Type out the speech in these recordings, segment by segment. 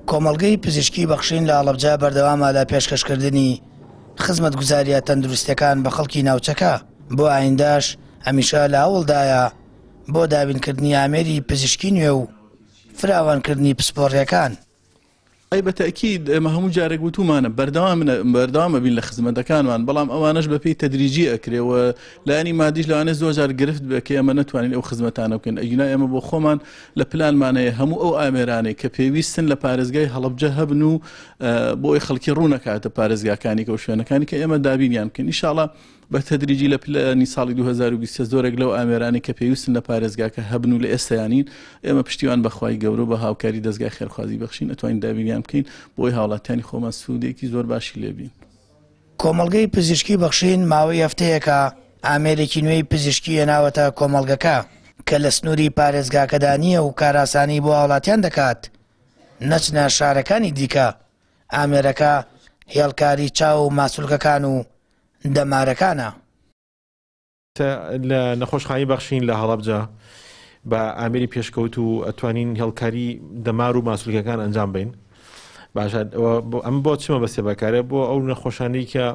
کۆمەڵگەی پزیشکی بەخشین لە ئاڵەبجە بەردەوامە لە پێشکەشکردنی خزمەت گوزاریە تەندروستەکان بە خەڵکی ناوچەکە بۆ ئاینداش هەمیشە لە هەوڵدایە بۆ دابینکردنی ئامێری پزیشکی نوێ و فراوانکردنی پسپۆڕیەکان. ئەی بە تەئکید ئێمە هەموو جارێک وتومانە بەردەوام بەردەوام ئەبین لە خزمەتەکانمان بەڵام ئەوانەش بە پێی تەدریجی ئەکرێ و لایەنی مادیش لەوانێ زۆر جار گرفت بێ کە ئێمە نەتوانین ئەو خزمەتانە بکەین ئەگینا ئێمە بۆ خۆمان لە پلانمان هەیە هەموو ئەو ئامێرانەی کە پێویستن لە پارێزگای هەڵبجە هەبن و بۆی خەڵکی ڕوونەکاتە پارێزگاکانی کە و شوێنەکانی کە ئێمە دابینیان بکەین ئیشاڵە بە تەدریجی لە پلەانی ساڵی دوو هەزار و بیست و سێ زۆرێک لەو ئامێرانەی کە پێویستن لە پارێزگاکە هەبن و لە ئێستەیان نین، ئێمە پشتیوان بە خوای گەورە و بە هاوکاری دەزگای خێرخوازی بەخشین ئەتوانین دابینیان بکەین بۆ ئەوەی هاوڵاتیانی خۆمان سوودێکی زۆر باشی لێ بین. کۆمەڵگەی پزیشکی بەخشین ماوەی هەفتەیەکە ئامێرێکی نوێی پزیشکی هێناوەتە کۆمەڵگەکە کە لە سنووری پارێزگاکەدا نییە و کارئاسانی بۆ هاوڵاتیان دەکات نەچنە شارەکانی دیکە، ئامێرەکە هێڵکاری چاو و ماسولکەکان و دەمارەکانە. تە لە نەخۆشخانەی بەخشین لە هەڵەبجە بە ئامێری پێشکەوت و ئەتوانین هێڵکاری دەمار و ماسولکەکان ئەنجام بین باشە ئەوە بۆ- ئەم بۆ چمە بەسێ بەکارە بۆ ئەو نەخۆشانەی کە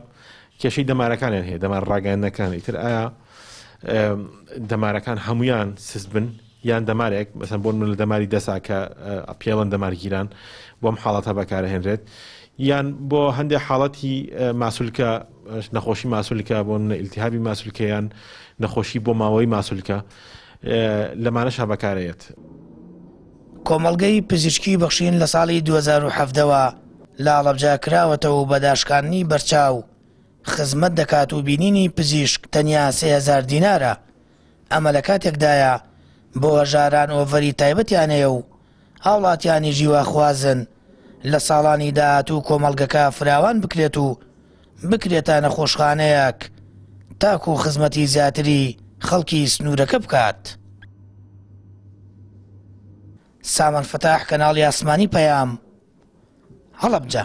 کێشەی دەمارەکانیان هەیە دەمار ڕاگەیاندنەکان ئیتر ئایا ئەم، دەمارەکان هەمویان سست بن یان دەمارێک مەسەن بۆن من لە دەماری دەسا کە پێڵەن دەمارگیران بۆم حاڵەتە بەکارهێنرێت یان بۆ هەندێک حاڵەتی ماسولکە نەخۆشی ماسولکە بۆ منە ئیلتیهابی ماسولکەیان نەخۆشی بۆ ماوەی ماسولکە لەمانەش هە بەکارەیەت کۆمەڵگەی پزیشکی بەخشین لە ساڵی 2017ەوە لە ئاڵەبجا کراوەتە و بەداشکاندنی بەرچاو خزمەت دەکات و بینینی پزیشک تەنیا سهزار دینارە ئەمە لە کاتێکدایە بۆ هەژاران ئۆڤەری تایبەتیان هەیە و هاوڵاتیانیش هیواخوازن لە ساڵانی داهاتوو کۆمەڵگەکە فراوان بکرێت و بکرێتە نەخۆشخانەیەک تاکوو خزمەتی زیاتری خەڵکی سنوورەکە بکات. سامان فتاح کەناڵی ئاسمانی پەیام هەڵەبجە.